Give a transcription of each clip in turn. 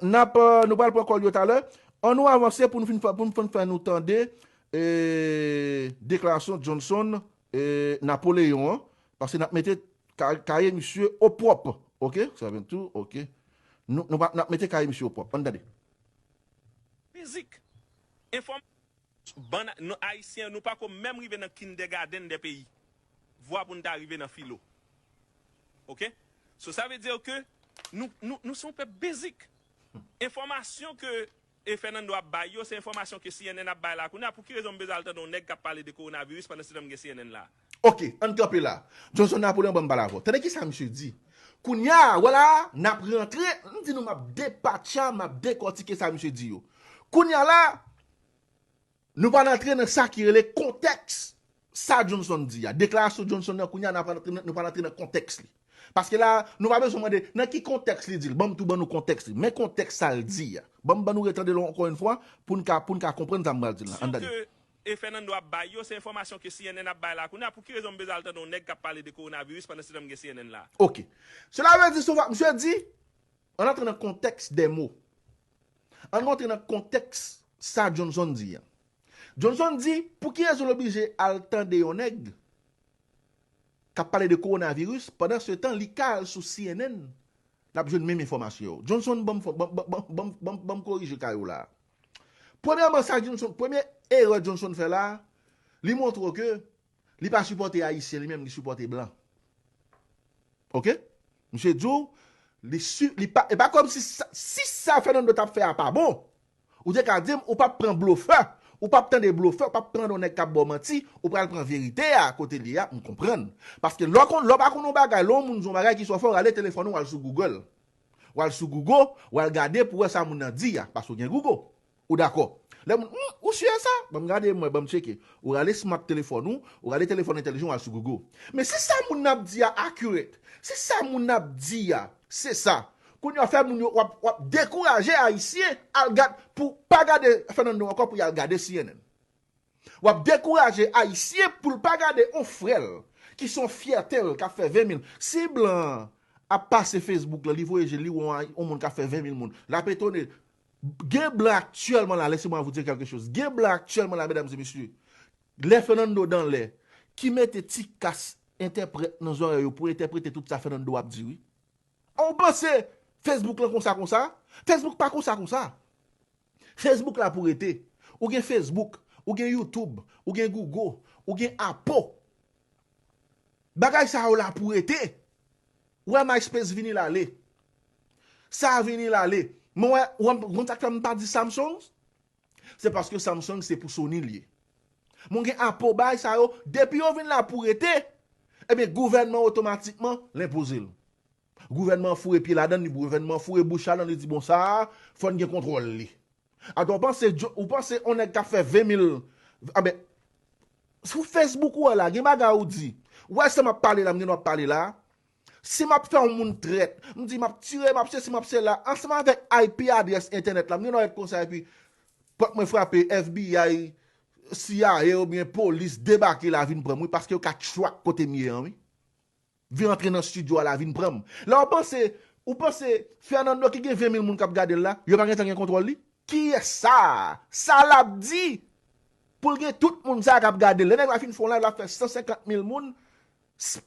Nap nou pral pran kòl yo talè. An nou avanse pou nou fin fè nou tande deklarasyon Johnson Napoléon an. Paske nap mete kaye misye o pwòp. Ok. Sèvent tou. Ok. Nap mete kaye misye o pwòp. An nou tande. Mizik. Enfòm. Bann nou ayisyen nou pako menm rive nan kindègadenn dè peyi vwa poun ta rive nan filo ok so sa ve dir ke nou nou nou se yon pèp bezik enfòmasyon ke Fernando ap bay yo se enfòmasyon ke cnn ap bay la kounya pouki rezon m bezwen al tande yon nèg kap pale de koronaviris pandan se tan m gen cnn la. Ok, ann kanpe la. Johnson Napoleon ban m pale avè w. Tande ki sa misye di, Kounya a, wala a, n ap rantre, m di nou m ap depatcha, m ap dekòtike sa misye di yo. Kounya la a, nou pral antre nan sa ki rele kontèks sa Johnson di a. Deklarasyon Johnson nan kounya a, n ap rantre, nou pral antre nan kontèks li. Paske la a, nou pa bezwen mande, nan ki kontèks li di l? Ban m tou ban nou kontèks li. Men kontèks sa l di a. Ban m ban nou retande l ankò yon fwa, pou n ka, pou n ka konprann sa m pral di l la. Ann tande. E Fernando ap bay yo, se enfòmasyon ke cnn ap bay la kounye a, pou ki rezon m bezwen al tande yon nèg kap pale de coronavirus pandan se tan m gen cnn la? Ok. Sela vle di sou va, misye di, ann antre nan kontèks dè mo. Ann rantre nan kontèks sa Johnson di an. Johnson di, pou ki rezon l oblije al tande yon nèg kap pale de coronavirus pandan se tan li ka al sou cnn lap jwenn menm enfòmasyon yo. Johnson banm, banm, banm, banm, banm korije kay ou la a. Premyèman sa Johnson, premye erè Johnson fè la, li montre w ke li pa sipòte ayisyen, li menm li sipòte blan. Ok? Misye di w, li si, li pa, e pa kòm si sa, si sa Fernando t ap fè a pa bon, ou te ka di m ou p ap pran blofè, ou p ap tande blofè, ou p ap tande yon nèg k ap ba w manti, ou pral pran verite a kote l ye a, m konprann. Paske lè w konn, lè w pa konn yon bagay, lè yon moun di yon bagay ki sou w, fò w rale telefòn ou al sou Google. Wal sou Google wal gade pou wè sa moun nan di a, paske w gen Google. Ou dakò. Lè moun, Humm, ou si e sa? Banm gade m wè, banm tcheke. Ou rale smart telefòn ou, ou rale telefòn entèlijan w al sou Google. Men si sa moun nan ap di a accurate, si sa moun nan ap di a se sa, kounye a w fè moun yo, wap, wap dekouraje Ayisyen al gad, pou pa gade Fernando ankò pou yal gade cnn. Wap dekouraje ayisyen poul pa gade on frèl ki son fyètel kap fè 20 mil si blan an ap pase Facebook lan li voye jel li wè on moun kap fè 20 mil moun lap etone gen blan aktyèlman la lese mwa vou dire kelke choz gen blan aktyèlman la medam e mesye lè Fernando dan lè ki mete ti kas entèprèt nan zòrèy yo pou entèprete tout sa Fernando ap di wi ou panse Facebook lan konsa konsa Facebook pa konsa konsa Facebook la pou rete. Ou gen Facebook, ou gen YouTube, ou gen Google, ou gen Apo. Bagay sa yo la pou rete. Ou wè MySpace vini l ale. Sa a vini l ale. Mwen wè, ou wè, konn sa k fè m pa di Samsung? Se paske Samsung se pou Sony l ye. Men w gen Apo, bagay sa yo, depi yo vin la pou rete, enben gouvènman otomatikman l enpoze l. Gouvènman an foure pye ladan li, gouvènman an foure bouch ladan li di bon sa a fò n gen kontwòl li. Atò w panse djo, ou panse on nèg k ap fè 20 mil, anben sou Facebook ou a la gen bagay ou di, ou wè sa m ap pale la m gen dwa pale la, si m ap fè on moun trèt, m di m ap tire, m ap sesi, m ap sela, ansanm avèk IP adrès entènèt la m gen dwa ret konsa epi pòt mwen frape FBI, cia oubyen polis debake la vin pran m wi paske yo ka track kote m ye an wi. Vin antre nan studio a la vin pranm la ou panse ou panse Fernando ki gen 20 mil moun kap gadel la yo pa gentan gen kontwòl li? Kiyès sa? Sa lap di? Poul gen tout moun sa kap gadel lè nèg la fin fè yon live lap fè 150 mil moun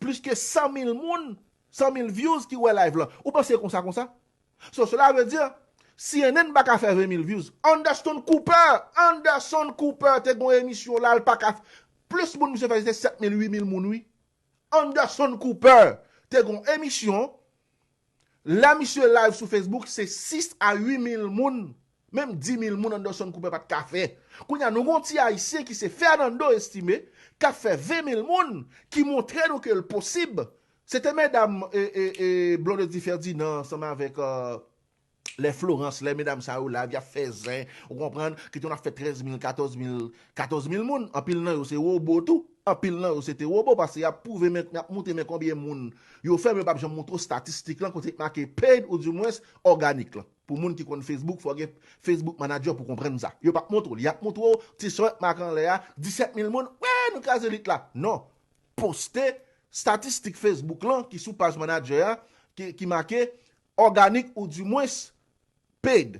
plis ke 100 mil moun 100 mil vyouz ki wè live lan ou panse konsa konsa? So sela ve di cnn paka fè 20 mil vyouz Anderson Cooper Anderson Cooper te gon emisyon la l paka plis moun misye fè se te 7 mil 8 mil moun wi Anderson Cooper te gon emisyon lè misye live sou Facebook se 6 a 8 mil moun menm 10 mil moun Anderson Cooper pat ka fè kounye a nou gon ti ayisyen ki se Fernando Estime kap fè 20 mil moun ki montre nou ke l posib se te medam Blondedy Ferdinand ansanm avèk Lè Florence, lè medam sa yo live yap fè zen, ou konprann, ki te konn ap fè 13 mil, 14 mil, 14 mil moun, anpil nan yo se wobo tou, anpil nan yo se te wobo paske yap pwouve men, yap moutre men konbyen moun yo fè men yo pap janm moutre w statistik lan kote ki make paid ou di mwens òganik lan. Pou moun ki konn Facebook fò w gen Facebook manager pou konprann sa. Yo pap moutre w li, yap moutre w ti son yap make anlè a, 17 mil moun, wee nou kraze lit la. Non, poste statistik Facebook lan ki sou paj manager a ki make Organic ou di mwens paid.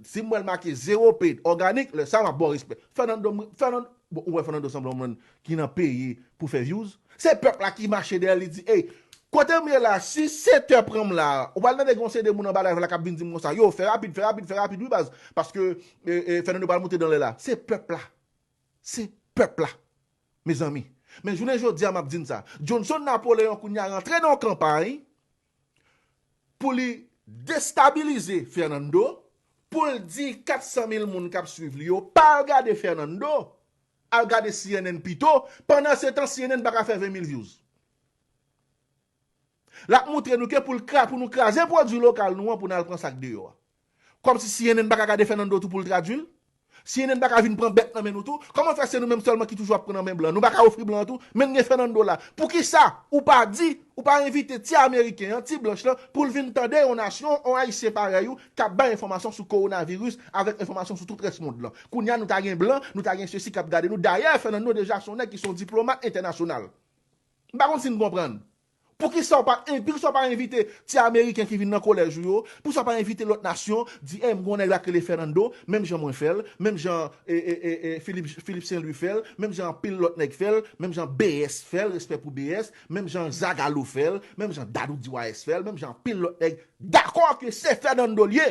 Sim wèl make zero paid organic lè sa map baw respè. Fernando m Fernando bon ou wè Fernando sanble yon moun ki nan peye pou fè views. Se pèp la ki mache dèyèl li di ey kotem ye la si Sete pranm la ou pral tande gen yon seri de moun anba live la kap vin dim konsa yo fè rapid fè rapid fè rapid wi baz paske Fernando pral moute danlè la se pèp la se pèp la mezanmi men jounen jodia map di n sa Johnson Napoleon kounya rantre nan yon kanpay pou li destabilize Fernando, pou l di 400 mil moun kap swiv li yo pa al gade Fernando, al gade cnn pito, pandan se tan cnn paka fè 20 mil vyouz. Lap moutre nou ke pou l kra, pou nou kraze pwodwi lokal nou an pou n al pran sak deyò a. Kòmsi cnn paka gade Fernando tou poul tradwil? Cnn paka vin pran bèt nan men nou tou? Kòman fè se nou menm sèlman ki toujou ap pran nan men blan? Nou paka ofri blan an tou? Menn gen Fernando la. Poukisa ou pa di, ou pa envite ti ameriken an, ti blanch lan, poul vin tande yon nasyon, yon ayisyen parèy ou kap bay enfòmasyon sou kowonaviris avèk enfòmasyon sou tout rès mond lan? Kounya nou ta gen blan, nou ta gen sesi kap gade nou. Dayè Fernando deja son nèg ki son diplomat entènasyonal. M pa konn sin konprann. Poukisa w pa poukisa w pa envite ti ameriken ki vin nan kolèj ou yo, poukisa w pa envite lòt nasyon, di ey m gon nèg la k rele Fernando, menm jan mwen fè l, menm jan Philippe Saint Louis fè l, menm jan anpil lòt nèg fè l, menm jan BS fè l, respè pou BS, menm jan Zagalo fè l, menm jan Dadou DYS fè l, menm jan anpil lòt nèg dakò ke se Fernando l ye!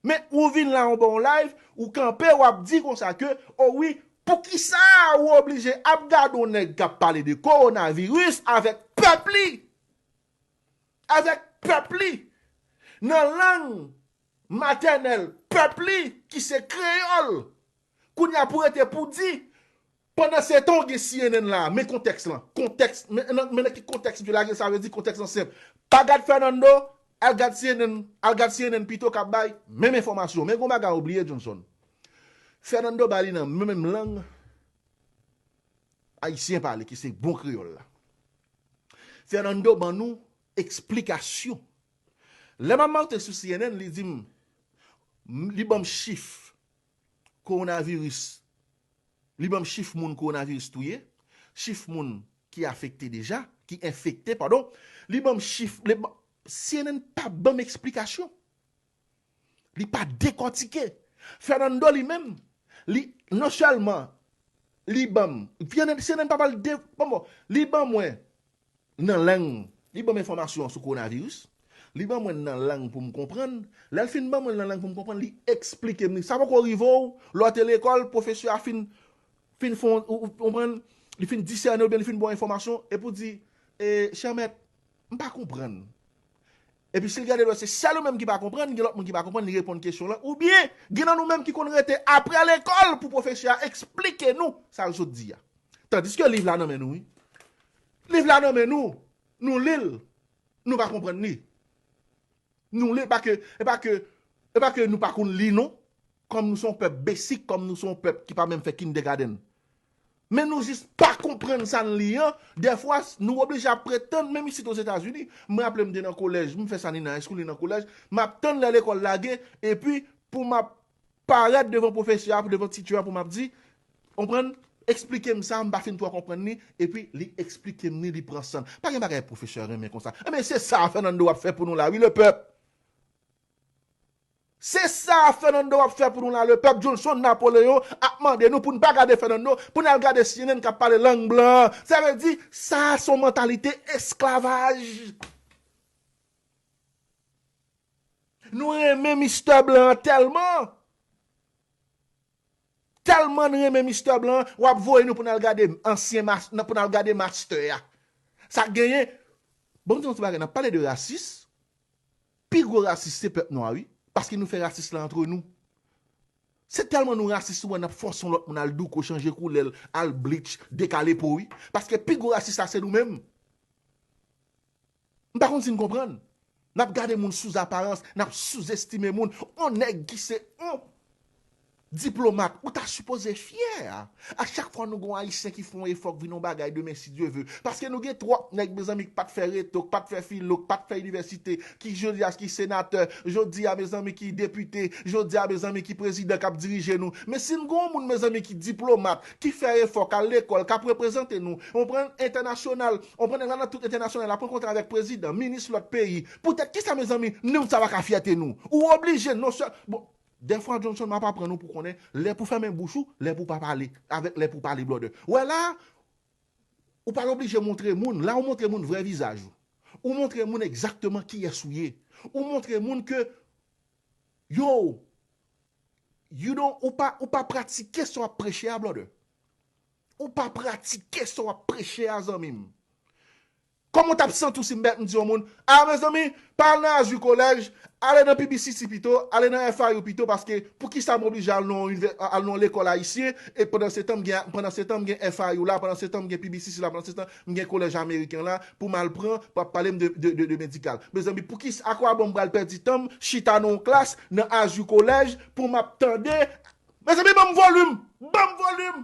Men ou vin la ou bon live ou kanpe wap di konsa ke o wi poukisa ou oblije ap gade yon nèg kap pale de korona viris avèk pèp li avèk pèp li nan lang matènèl pèp li ki se kreyòl kounya pou rete pou di Pandan se tan ou gen cnn la a, men kontèks lan, kontèks, men nan, men nan ki kontèks msye lage l sa vle di kontèks lan senp, pa gad Fernando, al gad cnn, al gad cnn pito k ap bay menm enfòmasyon, men gen yon bagay ou bliye Johnson, Fernando ba li nan menm lang Ayisyen pale ki se bon kreyòl la. Fernando ban nou eksplikasyon. Lè m ap monte sou cnn li di m, li ban m chif, Kowonaviris, li banm chif moun kowonaviris touye, chif moun ki afekte deja, ki enfekte padon, li banm chif, cnn pa banm eksplikasyon, li pa dekòtike, Fernando li menm, li non sèlman li banm, cnn pa pral de, bon bon, li ban mwen nan lang, li banm enfòmasyon sou kowonaviris, li ban mwen l nan lang pou m konprann, lè l fin ban mwen l nan lang pou m konprann li eksplike m li. Sa poko rive w lè w te lekòl, pwofesè a fin fin fè w, ou konprann, li fin disène w oubyen li fin ba w enfòmasyon epi w di, chè mèt, m pa konprann. Epi si l gade l wè se sèl ou menm ki pa konprann, gen lòt moun ki pa konprann, li reponn kesyon w lan. Oubyen, gen nan nou menm ki konn rete apre lekòl pou pwofesè a esplike nou sa l sot di a. Tandiske liv la nan men nou wi. Liv la nan men nou, nou li l, nou pa konprann li. Nou li l, pa ke, e pa ke, e pa ke nou pa konn li non, kòm nou se yon pèp besik, kòm nou se yon pèp ki pa menm fè kindègadenn. Men nou jis pa konprann sa n li an, dèfwa nou oblije ap ret tann, menm isit Ozetazini, m raple m te nan kolèj, m fè sa ni nan high school ni nan kolèj, m ap tann lè lekòl lage, epi pou m ap parèt devan pwofesè a, devan teacher a pou m ap di, konprann, eksplike m sa, m pa fin twò konprann ni, epi li eksplike m ni, li pran san l. Pa gen bagay pwofesè renmen konsa. Enben se sa Fernando ap fè pou nou la wi lepèp! Se sa a Fernando wap fè pou nou la le pèp Jolson Napoleon ap mande nou pou n pa gade Fernando pou n al gade cnn kap pale lang blan an sa vle di sa a son mantalite esklavaj nou renmen Mister blan an tèlman tèlman n renmen Mister blan an wap voye nou pou n al gade ansyen master pou n al gade master a sa genyen bon m di nou ti bagay nap pale de rasis Pi gwo rasis se pèp nwa wi, paske nou fè rasis la antre nou. Se tèlman nou rasis ou wè nap fòse yon lòt moun al douko, chanje koulèl, al bleach, dekale po wi. Paske pi gwo rasis la se nou menm. M pa konn si n konprann. Nap gade moun sou aparans, nap souzestime moun. On nèg ki se on. Diplomat, ou ta sipoze fyè a chak fwa nou gen yon Ayisyen ki fè yon efò k vin yon bagay demen si Dye ve. Paske nou gen twòp nèg mezanmi k pat fè reto, k pat fè filo, k pat fè inivèsite, ki jodi a ki senatè, jodi a mezanmi ki depite, jodi a mezanmi ki prezidan k ap dirije nou. Men si n gen yon moun mezanmi ki diplomat, ki fè efò, k al lekòl, k ap reprezante nou, ou konprann, entènasyonal, ou konprann nèg la nan tout entènasyonal, l ap rankontre avèk prezidan, minis lòt peyi, poutèt kisa mezanmi, nou sa pa ka fyète nou? Ou oblije non sèl, bon, Dèfwa Johnson map aprann ou pou konnen lè pou fèmen bouch ou, lè pou pa pale, avèk lè pou pale brother. Wè la a, ou pa oblije montre moun, la ou montre moun vrè vizaj ou. Ou montre moun egzakteman kiyès ou ye. Ou montre moun ke yow, you don, ou pa, ou pa pratike sa wap preche a brother. Ou pa pratike sa wap preche a zanmi m. Kòman w t ap santi w si m di yon moun, A mezanmi, pa al nan Azur College, ale nan PBCC pito, ale nan FIU pito paske poukisa m oblije al nan yon lekòl ayisyen e pandansetan m gen FIU la, pandansetan m gen PBCC la, pandansetan m gen kolèj ameriken la pou m al pran pou ap pale m de medikal. Mezanmi, poukisa, akwabon m pral pèdi tan m chita nan yon klas nan Azur College pou m ap tande Mezanmi, ban m volim! Ban m volim!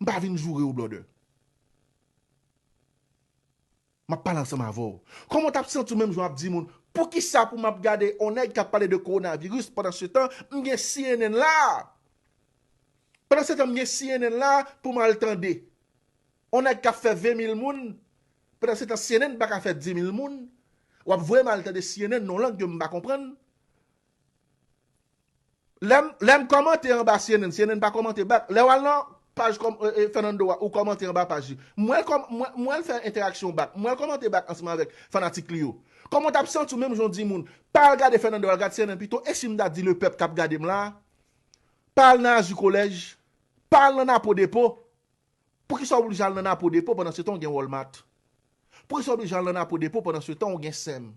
M pa vin joure w blòdè. M ap pale ansanm avè w. Kòman w t ap santi w menm jan w ap di moun, poukisa pou m ap gade yon nèg k ap pale de kowonaviris pandansetan m gen cnn la a? Pandansetan m gen cnn la a pou m al tande yon nèg k ap fè 20 mil moun, pandansetan cnn pa ka fè 10 mil moun, w ap voye m al tande cnn nan yon lang ke m pa konprann? Lè m kòmante anba cnn, cnn pa kòmante bak. Lè w al nan paj Fernando a, ou kòmante anba paj li. M wè l kòm, m wè l fè entèraksyon bak. M wè l kòmante bak ansanm avèk fanatik li yo. Kòman w t ap santi w menm jan w di moun, pa al gade Fernando, al gad cnn pito, e si m ta di lepèp k ap gade m la a, pa al nan Azu Kolèj, pa al nan Napo Depo? Poukisa w oblije al nan Napo Depo pandansetan w gen Walmart? Poukisa w oblije al nan Napo Depo pandansetan w gen sem?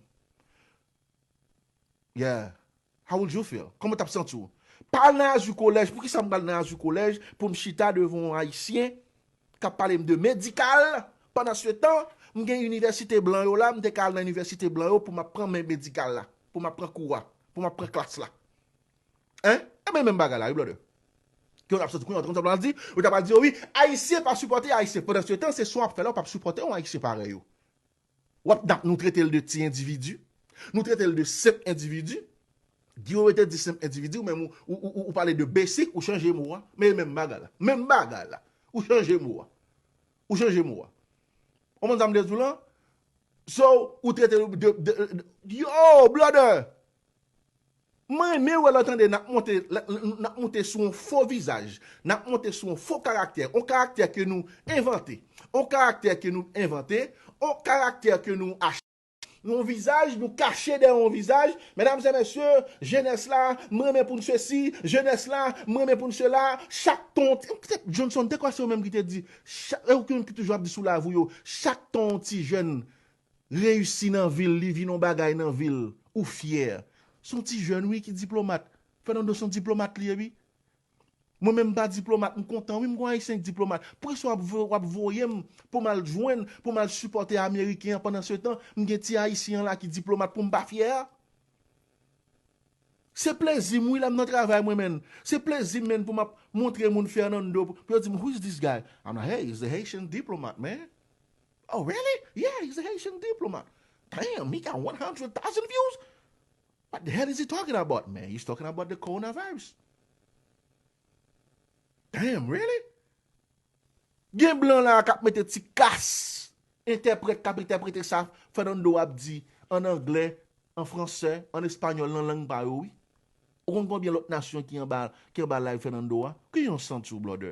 Yeah How would you feel? Kòman w tap santi w? Pa al nan Azur College Poukisa m pral nan Azur College pou m chita devan yon Ayisyen k ap pale m de medikal pandansetan m gen inivèsite blan yo la m te ka al nan inivèsite blan yo pou m ap pran men medikal la pou m ap pran kou a pou m ap pran klas la Hein Ebyen e menm bagay la wi brother Kè w tap santi w? Kounya w te konn sa pral di? Ou ta pral di yo wi Ayisyen pa sipòte Ayisyen pandansetan se sa w ap fè la w pa p sipòte yon Ayisyen parèy ou Wap dap nou trete l de ti individu? Nou trete l de senp individu? Guy wewe te di senp individu men ou pale de basic ou chanje mo a men e menm bagay la menm bagay la ou chanje mo a ou chanje mo a ou konprann sa m vle di w lan so ou trete l de yo blòdè M renmen wè lò tande nap monte nap moute sou on fo vizaj, nap monte sou on fo karaktè, on karaktè ke nou envante, on karaktè ke nou envante, on karaktè ke nou achte, on vizaj nou kache dèyè on vizaj, medam e mesye, jenès la, m renmen pou n sesi, jenès la, m renmen pou n sela, chak ton ti, m se, Johnson, dekwa se ou menm ki te di, chak, e ou ki menm ki toujou ap di sou live ou yo, chak ton on ti jèn Reyisi nan vil li vin on bagay nan vil ou fyè. Son ti jèn wi ki diplomat. Fernando son diplomat li ye wi. Mwen menm m pa diplomat m kontan wi m gon ayisyen ki diplomat. Poukisa wap voye wap voye m pou m al jwenn pou m al sipòte ameriken an pandan se tan m gen ti ayisyen an la ki diplomat pou m pa fyè a. Se plezi m wi lè m nan travay mwen menn. Se plezi m menn pou m ap montre moun Fernando pou yo di m who is this guy? I'm like hey is the Haitian diplomat man. Oh really? Yeah he's a Haitian diplomat Damn he got one hundred thousand views What the hell is he talking about man He's talking about the coronavirus Damn really? Gen blan la a kap mete ti kas Entèprèt kap entèprete sa Fernando ap di an anglè an fransè an español nan lang pa yo wi Ou konn konbyen lòt nasyon ki anba ki anba live Fernando a? Ki yon santi w blòdè?